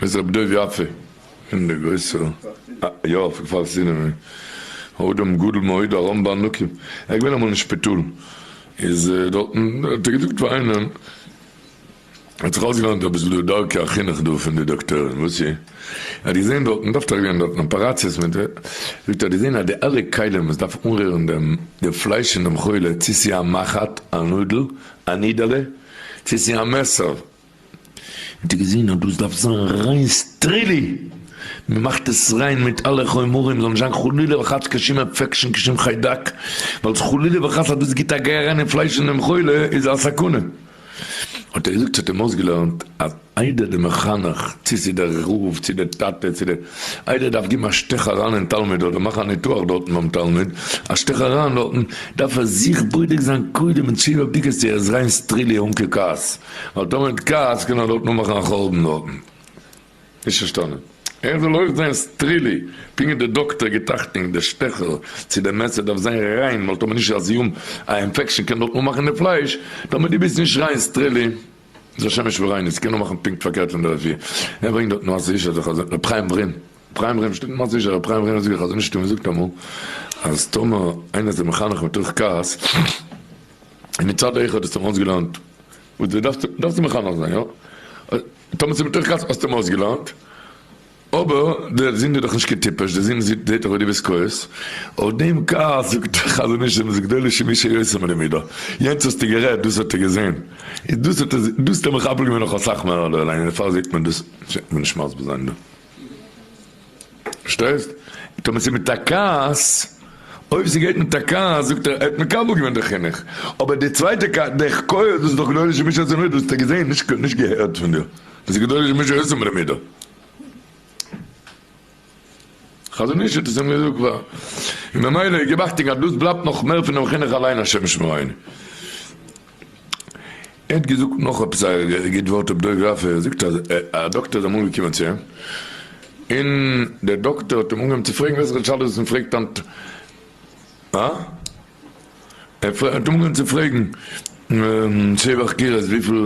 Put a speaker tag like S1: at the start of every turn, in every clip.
S1: איז רבי דוב יפה פון די גרויסע יאפע כפר סיני האדם גדול מאוד ארם בענקים ער איז געווען אמאל אין שפיטאל איז דארטן האט ער געזאגט פאר איינעם ער האט זיך אויסגעלערנט אביסל דא דרכי החינוך דא פון די דאקטוירים וואס איר האט געזען דארט מען דארף טאקע גיין דארטן אפעראציעס מען זאגט ער האט געזען אז די אלע כלים וואס דארף אנרירן דעם די פלייש פון דעם חולה צו ס'איז א מחט א נאדל א נידעלע צו ס'איז א מעסער האט ער געזען אז דאס דארף זיין ריין סטרילי, מען מאכט עס ריין מיט אלע חומרים זאל נישט זיין חלילה וחס קיין שום אינפעקשאן קיין שום חיידק, ווייל חלילה וחס אז דאס גיבט א גיי אריין אין פלייש פון דעם חולה איז א סכנה, האט ער געזאגט ס'האט אים אויסגעלערנט אז איידער דער מחנך צו ס'איז דער רב צו דער טאטע צו דער איידער דארף גיבן א שטעך אריין אין תלמיד אדער מאכן א ניתוח דארטן ביים תלמיד א שטעך אריין דארטן דארף ער זיך בודק זיין קודם אין תשובה בדיקות צו ער איז ריין סטרילי אן קיין כעס. האט דאנעט כץ קענען דארט נאמאכן א חורבן דארטן? נישט פארשטאנען. ער זאל אויך זיין סטרילי פונקט ווי די דאקטער געטראכטנג די שטעכער צו די מעסער דארף זיין ריין ווייל טאמער נישט אז ימ א אינפעקשען קען דארט נאמאכן די פלייש טאמער די ביסט נישט ריין סטרילי איז א שמש וריינוס ס'קען נאמאכן פונקט פארקערט פון די רפי ער ברענגט דארט נאר ס'איז נישט אזוי חז ל פריים ורים פריים ורים שטייט נאר ס'איז פריים ורים זאגט די חזון איש תמיד זאגט אמאל אז טאמער איינער איז דיר מחנך מתוך כעס. און מצד אויך האט עס אים אויסגעלערנט וואס דו דארפסט, דארפסטו מחנך זיין יא, טאמער ס'איז מתוך כעס האסטו אים אויסגעלערנט, אבער די זינד איז דאך נישט קיין טיפש, די זינד זעט דאך אויס די ביסט כועס, אויף דעם כעס זאגט דער חזון איש אז מ'איז גדול אישים איש היוצא מן המידה, יענץ האסטו גערעדט, דאס האט ער געזען, איז דאס האט ער, דאס האט ער מחבל געווען נאך אסאך מער אדער אליין, און דערפאר זעט מען דאס, מ'וועט נישט מסביר זיין דא. פארשטייסט? טאמער ס'איז מיט א כעס, אויב ס'גייט מיט א כעס זאגט ער, ער האט מקבל געווען די חינוך, אבער די צווייטע כעס, די כעוס, דאס איז דאך גדול איש ומשה עשה מידו, דאס האט ער געזען, נישט געהערט פון דיר, דאס איז גדול איש ומשה עשה מיט די מידו. חזון איש האט עס אים געזאגט כבר, און ממילא, געב אכטונג אז דאס בלייבט נאך מער פונעם חינוך אליין השם ישמרינו. ער האט געזאגט נאך עפעס א גוט ווארט אויף דוב ראפער, ער זאגט אז א דאקטער איז אמאל געקומען צו אים, און דער דאקטער האט אים אנגעהויבן צו פרעגן וועלכע שאלות מען פרעגט היינט, אה? ער האט אים אנגעהויבן צו פרעגן שבח קירות וויפיל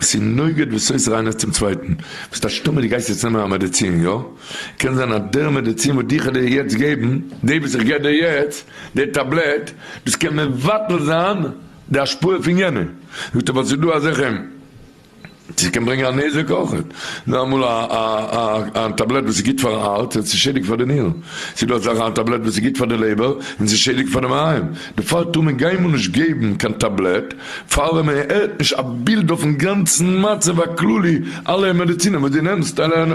S1: ס'איז נוגד וואס אויס ריינערס צום צווייטן. ביסט א שטומער די גייסט יעצט נעמען א מעדעצין יא? קען זיין אז דער מעדעצין וואס דיך דיר יעצט געבן, דעי וואס איך געב דיר יעצט, דער טאבלעט, דאס קען מבטל זיין די השפעה פון יענע. זאגט ער ווייל ס'איז דא אזעלכע, ס' קען ברענגען א נזק אויכעט. זאג אמאל א א א א טאבלעט וואס איז גוט פארן הארץ און ס'איז שעדיג פאר די נירן. ס'איז דא אזעלכע א טאבלעט וואס איז גוט פאר די לעבער און ס'איז שעדיג פאר די מעיים. דערפאר טאר מען קיינמאל נישט געבן קיין טאבלעט פאר ווען מען הערט נישט א בילד אויפן גאנצן מצב הכללי, אלע מעדיצינען וואס דו נעמסט אליין.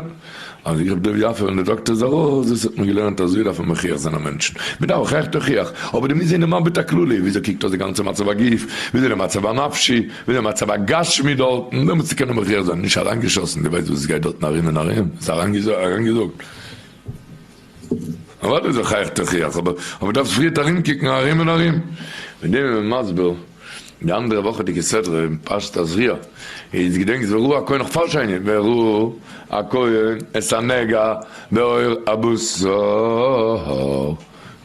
S1: אז איך האב דא יפה און די דאקטער איז ארויס, דאס האט מען געלערנט אזוי דארף מען מוכיח זיין א מענטשן, מען דארף אויך עכט הוכיח, אבער דו מוזט זען די מבט הכללי, וויאזוי קוקט אויס די גאנצע מצב הגוף, וויאזוי די מצב הנפשי, וויאזוי די מצב הגשמי דארטן, דעמאלטס צו קענען מוכיח זיין, נישט אריינגעשאסן, דו ווייסט וואס עס גייט דארטן ארום און ארום, עס איז אריינגעזאגט. אוודאי זיך אייך תוכיח, אבער אבער דארפסט פריערט ארומקוקן ארום און ארום. מיט דעם איז מען מסביר די אנדערע וואכעדיגע סדרה אין פרשת תזריע, איז געדענקסט ווען ר' הכהן נאך פאר שני, ווען ר' הכהן את הנגע בעור הבשר,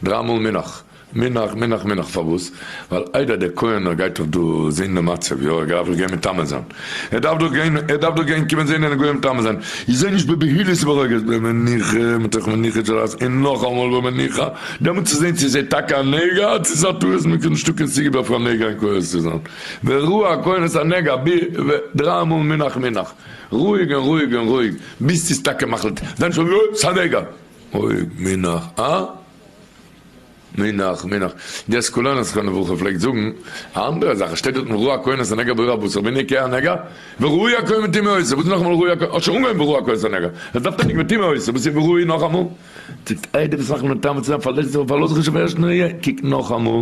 S1: דריי מאל מנח. מנח מנח מנח פארוואס? ווייל איידער דער כהן נאר גייט דאך דא זעהן די מצב יא ער גייט דאך גיין מטמא זיין ער דארף דאך גיין ער דארף דאך גיין קומען זעהן און גוי מטמא זיין איך זעה נישט בבהילות וברוגז במנוחה מתוך מנוחה של אז און נאכאמאל במנוחה דעמאלט צו זעהן צו עס איז טאקע א נגע צו עס איז א טעות מען קען נישטא קיין סיבה פאר א נגע אין כהן צו זיין וראה הכהן את הנגע ב ו דריי מאל מנח מנח רואיג און רואיג און רואיג ביז ס'איז טאקע מחליט זיין שוין יא ס'איז א נגע רואיג מנח א. מנח, מנח. די סקולענער סכנה וואך ער פלעגט זאגן א אנדערע זאך, עס שטייט דארטן ראה כהנס הנגע בראה הבשר והנה כ א נגע, וראה יעקב מטמא עושה, וואס איז נאכאמאל ראה יעקב, האט שוין אנגעהויבן בראה כהנס הנגע, עס דארף טענה'ן מטמא עושה, וואס איז וראה נאכאמאל, זאגט איי די וואס מאכן מטמא צו זיין פארלעש זיך און פארלאז זיך נישט אויף ערשטן ראי', קוק נאכאמאל.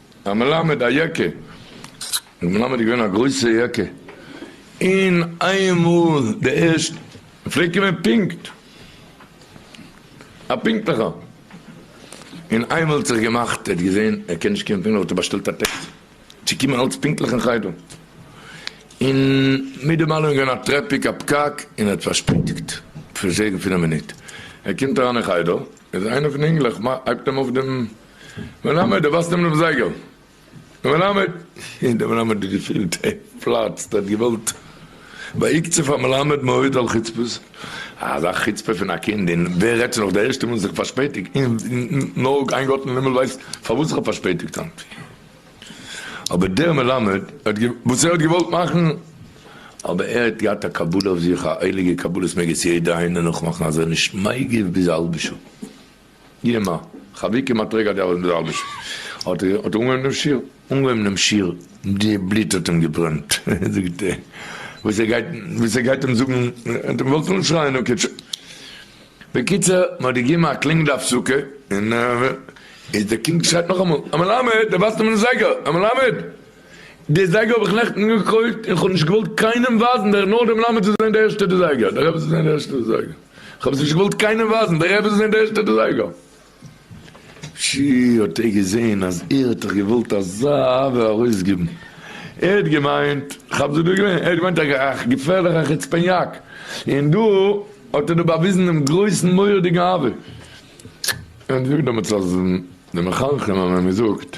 S1: א מלמד א יקע, דער מלמד איז געווען א גרויסע יקע, און איינמאל די ערשט פלעגט קומען פונקט, א פונקטליכער, און איינמאל האט זיך געמאכט ער האט געזען ער קען נישט קומען פונקטליך האט ער באשטעלט א טעקסי צו קומען אלץ פונקטליך אין חדר, און מיט דעם אלעם איז געווען א טרעפיק א פקק און ער האט פארשפעטיגט פון זעגן פון א מינוט, ער קומט אריין אין חדר איז איינער פון די אינגלעך הייבט אים אויף דעם. מלמד, דו ווייסט אים דעם זייגער? דער מלמד, און דער מלמד האט געפילט ער פלאצט, ער האט געוואלט ויגצה פאר מלמד מאוד על חוצפות, אזא חוצפה פון א קינד, און ווער רעדט נאך דער ערשטער מאל זיך פארשפעטיגט, און נאר איין גאט אין הימל ווייסט פארוואס איך האב פארשפעטיגט היינט, אבער דער מלמד האט וואס ער האט געוואלט מאכן, אבער ער האט געהאט א קבלה אויף זיך, א הייליגע קבלה, עס מעג עס יעדער איינער נאכמאכן, אז ער נישט מגיב ביז א האלבע שעה. ג. חביקים א טרעג א די ארבעט מיט די אלביש האט ער האט ער אנגעהויבן דעם שיר. אנגעהויבן דעם שיר, די בלוט האט אים געברענט, זאגט ער וואס ער גייט וואס ער גייט אים זאגן, ער האט געוואלט אנשרייען און קוטשען. בקיצור מען האט געגעבן א קלינג די הפסקה און איז דער קינד שרייט נאכאמאל, א מלמד! דער ווייזט אים מיטן זייגער, א מלמד! די זייגער האב איך נעכטן געקויפט און כ'האב נישט געוואלט קיינעם ווייזן דער נאר די מלמד זאל זען די ערשטע די זייגער די רבי זאל זען די ערשטע די זייגער כ'האב עס נישט געוואלט קיינעם ווייזן די רבי זאל זען די ערשטע די זייגער. שי האט ער געזען אז ער האט זיך געוואלט אזא אהבה ארויסגעבן ער האט געמיינט כ'האב זיך דא געווען ער האט געמיינט א געפערליך א חוצפעניאק און דא האט ער דא באוויזן דעם גרויסן מורא'דיגן אהבה און זאגט דעמאלטס אז די מחנכים האבן אים געזאגט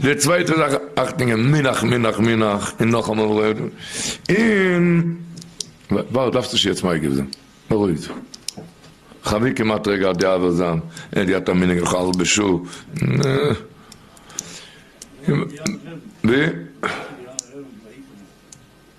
S1: די צווייטע זאך אכטונגען מנח מנח מנח און נאכאמאל רעד און ווארט דארפסט נישט יעצט מגיב זיין בארואיג דיך חבי כמעט רגע די עבר זיין עדי האט א מנהג לכל הלבו שו ו.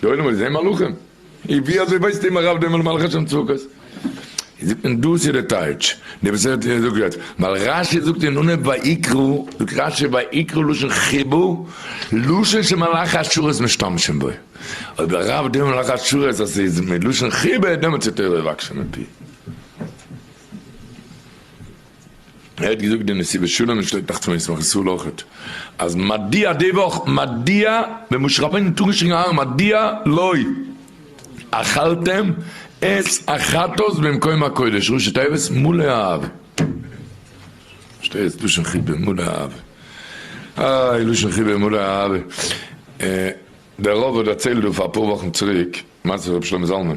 S1: די עולם האט געזען מלאכים? אי ווי אזוי ווייסט אימער רב דעם מלאך השם צבקות? זאגט מען דאס איז די טייטש די וואס ער האט געזאגט יעצט ווייל רשי זאגט אין אנהויב ויקרא זאגט רשי ויקרא לשון חיבור לשון שמלאך השרת משתמשים בו אויב די רב דעם מלאך השרת אז ס'איז מלשון חיבור דעמאלטס איז תורה יבקשו מפי. ער האט געזאגט די נשיא בשלום און שליט א פון ישמח ישראל אויכעט אז מדיע די וואך מדיע ווען משה רבינו האט אנגעשריגן אהרן מדיע לא אכלתם את החטאת במקום הקודש ראשי תיבות מלא אהבה שטייט לשון חיבה מלא אהבה איי לשון חיבה מלא אהבה דער רב האט דערציילט דא פאר אפאר וואכן צוריק מעשה ר' שלמה זלמן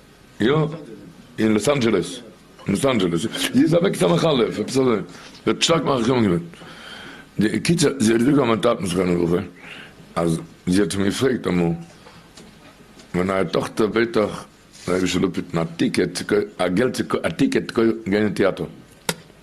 S1: יא, אין לאס אנדזשעלעס, אין לאס אנדזשעלעס איז אוועק די מחלה, עפעס אזוי, זי האט שטארק מחכים געווען, די קיצער זי האט געזאגט פאר מיין טאטן זכרונו לברכה, אז זי האט אים געפרעגט אמאל, מיין נייע טאכטער בעט דיך רבי שלום פיטן א טיקעט צו קויפן, א געלט צו קויפן, א טיקעט צו קויפן גיין אין טעאטער,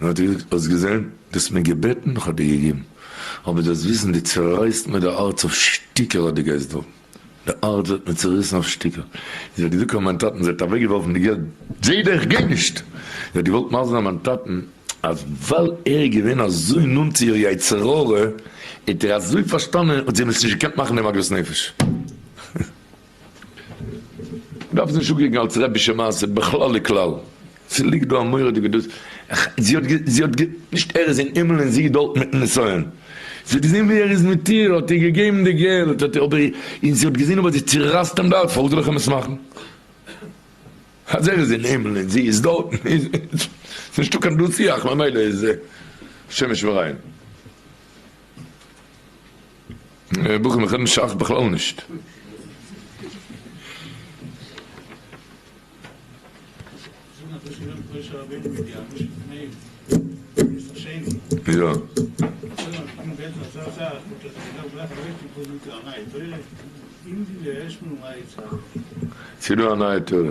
S1: נאר דו האסט געזען, דו האסט מיר געבעטן איך האב דיר געגעבן, אבער דו האסט וויסן דו צערייסט מיר די הארץ אויף שטיקער אז דו גייסט דארטן, די הארץ ווערט מיר צעריסן אויף שטיקער, איך זאג געזאגט פאר מיין טאטן זי האט אוועק געווארפן די געלט, זי דער איך גיי נישט, זי האט געוואלט מזל'ן מיין טאטן אז ווייל ער איז געווען אזוי נאנט צו איר יצר הרע האט ער אזוי פארשטאנען האט זי אים עס נישט געקענט מאכן דעם עגמת נפש. מ'דארף עס נישט אנקוקן אלס רעבישע מעשה בכלל וכלל. ס'ליגט דא א מורא'דיגע דאס. זי האט גע. זי האט גע. נישט ער איז אין הימל און זי איז דארט מיטן נסיון. זי האט געזען ווי ער איז מיט איר, האט איר געגעבן די געלט, האט אבער און זי האט געזען אבער זי צערייסט אים דארט, פארוואס זאל איך אים עס מאכן? אז ער איז אין הימל און זי איז דארט איז נישטא קיין דו שיח ממילא איז שמש וריין. בחורים איך רעד נישט שייך בכלל נישט. ס'איז דא א נייע תורה.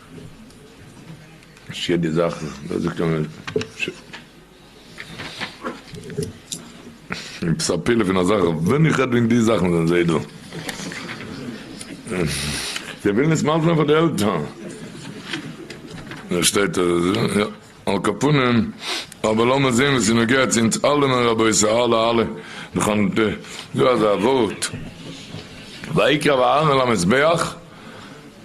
S1: שיער די זאכן וואס זאגט מען שוין עפעס א פלא פון א זאך ווען איך רעד וועגן די זאכן זענען זיי דא זיי ווילן עס מאלפן פאר די עלטערן דא שטייט אז עס איז יא על כל פנים אבער לאמיר זעהן וואס איז נוגע צו אונז אלעמען רבותי אלע אלע נאכן דא אזא ווארט ויקרב אהרן אל המזבח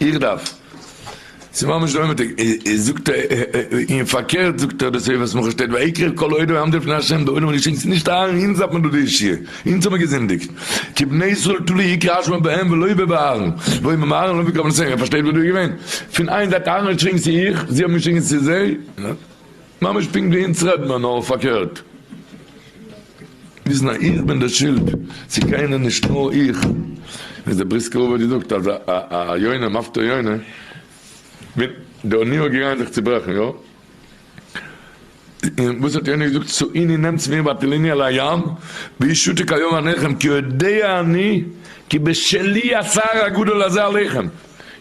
S1: איך דארף. ס'איז ממש די אומעטיג. זאגט ער און פארקערט זאגט ער דאס אויף וואס מח ש שטייט ויקרב כל העדה העמדה לפני ה' די עולם האט געשריגן ס'איז נישט אהרן אונז דארף מען דא די ישועה אונז האבן געזינדיגט כי בני ישראל תלוי עיקר האשמה בהם ולא באהרן ואם הם אהרן לא מקבלים עשה' ער פארשטייט וואס דא איז געווען פון איין זייט אהרן האט געשריגן ס'איז איך זיי האבן געשריגן ס'איז זיי. ממש פונקט ווי אונז רעדן מיר נאר פארקערט. וויסן אז איך בין די שולד צו קיינער נישט נאר איך. ווי דער בריסקער רבי האט געזאגט אז א יונה מפטור יונה. וויל די אוניות געגאנגען זיך צוברעכן יא. און וואס האט יונה געזאגט צו אוניא נעמטס מיר באטלני אל הים ואי שותה כיום עניכם כי יודע אני כי בשלי הצער הגדול הזה עליכם.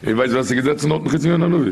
S1: איר ווייסט ווער ס'איז געזעצן דארטן חוץ מיונה הנביא?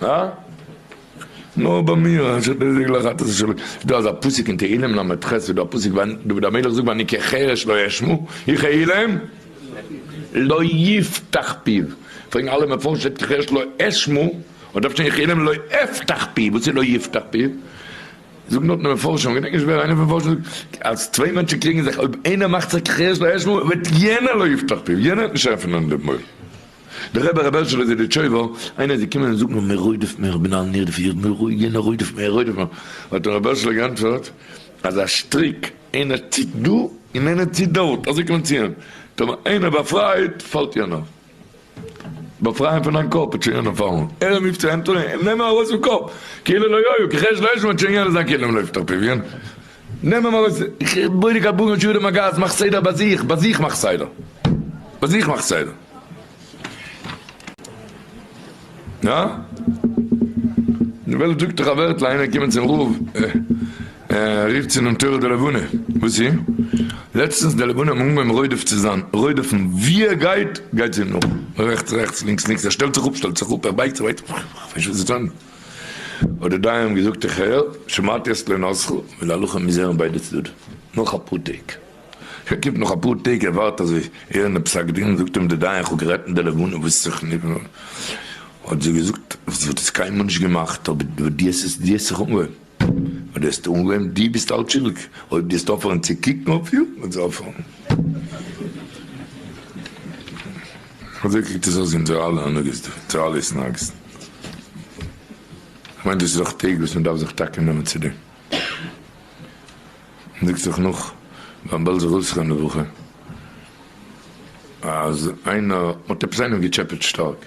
S1: הא? נאר ביי מיר? אנשי בזק לא חטא אשר לא כלו. דא אזא פסוק אין תהילים ל' ח איז דא א פסוק ווען דוד המלך זאגט ואני כחרש לא אשמע איך א אילם לא יפתח פיו פרעגן אלע מפרשים שטייט כחרש לא אשמע און דארף שטיין איך אילם לא אפתח פיו וואס איז לא יפתח פיו זאגן דארט די מפרשים כ'געדענק נישט ווער איינער פון מפרשים זאגט אז צוויי מענטשן קריגן זיך אויב איינער מאכט זיך כחרש לא אשמע וועט יענער לא יפתח פיו יענער וועט נישט עפענען די מויל. די רבי רבי הערשעלע זידיטשויבער, איינער איז געקומען און זאגט מיר מיר רודף מיר כ'בין א נרדפיר מיר רודף יענער רודף מיר רודף מיר, האט אים רבי הערשעלע גענטפערט אז א שטריק איינער ציט דא און איינער ציט דארט אזוי קען מען ציען, טאמער איינער באפרייט פאלט יענער, באפריי אים פון דיין קאפ האט שוין יענער פארלוירן, ער רופט צו ענטאני, נעם אים ארויס פון קאפ, כאילו לא היה, כחש לא היה, שמעט שוין יענער זיין כלים לויפט אפי' ווי אן. נעם אים ארויס, איך בונה קבלן און שיעורי מגעת, מאך סדר ביי זיך, ביי זיך מאך סדר, ביי זיך מאך סדר. הא? די וועלט זאגט דאך א ווערטל, איינער קומען צום רב, ער רופט צו דעם תורה די לבנה, וואס איז? לעצטנס די לבנה האבן אנגעהויבן רודף צו זיין, רודף'ן, ווי ער גייט, גייט זי אים נאך, רעכטס רעכטס, לינקס לינקס, ער שטעלט זיך אפ, שטעלט זיך אפ, ער בייגט זיך, בייגט זיך, איך ווייס נישט וואס זי טאן. האט די דיין אים געזאגט איך הער, שמעתי את לענותך, און די הלכה מוז הערן ביידע צדדים נאך אפאר טעג. שוין קומט נאך אפאר טעג ער ווארט אזוי הערן די פסק דין, זאגט אים די דיין איך האב גערעדט מיט די לבנה וואס איז זיך נגנב, האט זי געזאגט וואס וואלט עס קיינמאל נישט געמאכט אבער דו האסט עס זיך אנגעהויבן. אויב דו העסט אנגעהויבן, דו ביסט אלץ שולדיג, אויב דו העסט אויפהערן צו קוקן אויף איר, וועט זי אויפהערן. אזוי קוקט עס אויס אונזערע אלע הנהגות דא, אונזערע אלע התנהגות'ן. כ'מיין דאס איז דאך טעג וואס מען דארף זיך טאקע נעמען צו דעם. מען זאגט זיך נאך ביים בעלזער אויסרעדן די וואך אז איינער האט עפעס איינעם געטשעפעט שטארק.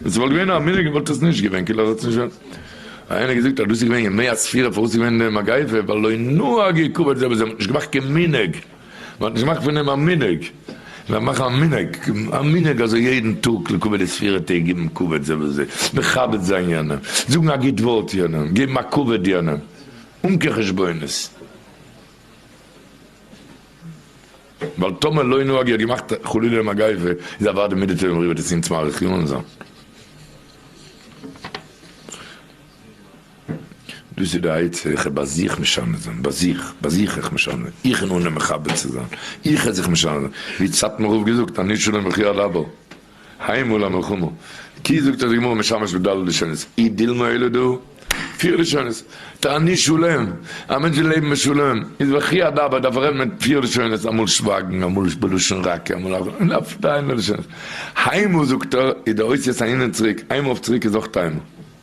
S1: ווען ס'וואלט געווען א מנהג וואלט עס נישט געווען כאילו ער האט עס נישט ווען איינער האט געזאגט אז דאס איז געווען ימי הספירה פארוואס איז געווען די מגיפה ווייל לא נהג עיכוב אדזעבע זיי האבן נישט געמאכט קיין מנהג מען האט נישט געמאכט פון דעם א מנהג זיי מאכן א מנהג א מנהג אזוי יעדן טאג לקבל די ספירה טעג גיבן כבוד זה לזה מכבד זיין יענעם זאגן א גוט ווארט יענעם געבן א כבוד יענעם אן קיין חשבונות. ווייל טאמער לא נוהג יא געמאכט חלילה מגיפה איז אוודאי מידי טובים אריבער צו ציען צום אריך יאנזען. דאס איז די עצה איך וועל ביי זיך משנה זיין ביי זיך ביי זיך איך משנה איך און אנהייבן מכבד צו זיין איך וועל זיך משנה זיין ווי האט סאטמאר רב געזאגט אני שונה מכיאה לדבר. הײ מול אַ מלחמה, כי זאָגט אַז די גמרא משמש בד' לשונות, אי דילמא אלא דא, פֿיר לשונות, תעני שלום, אַ מענטש וויל לעבן בשלום, איז וכי אַדרבא דאַרף ער רעדן מיט פֿיר לשונות, אַ מאָל שװײַגן, אַ מאָל בלשון רכה, אַ מאָל אַ און אַף דײַנע לשונות. הײ מול, זאָגט ער, איז דער אותיות אַהין און צוריק, הײ מול אַף צוריק איז אויך הײ מול.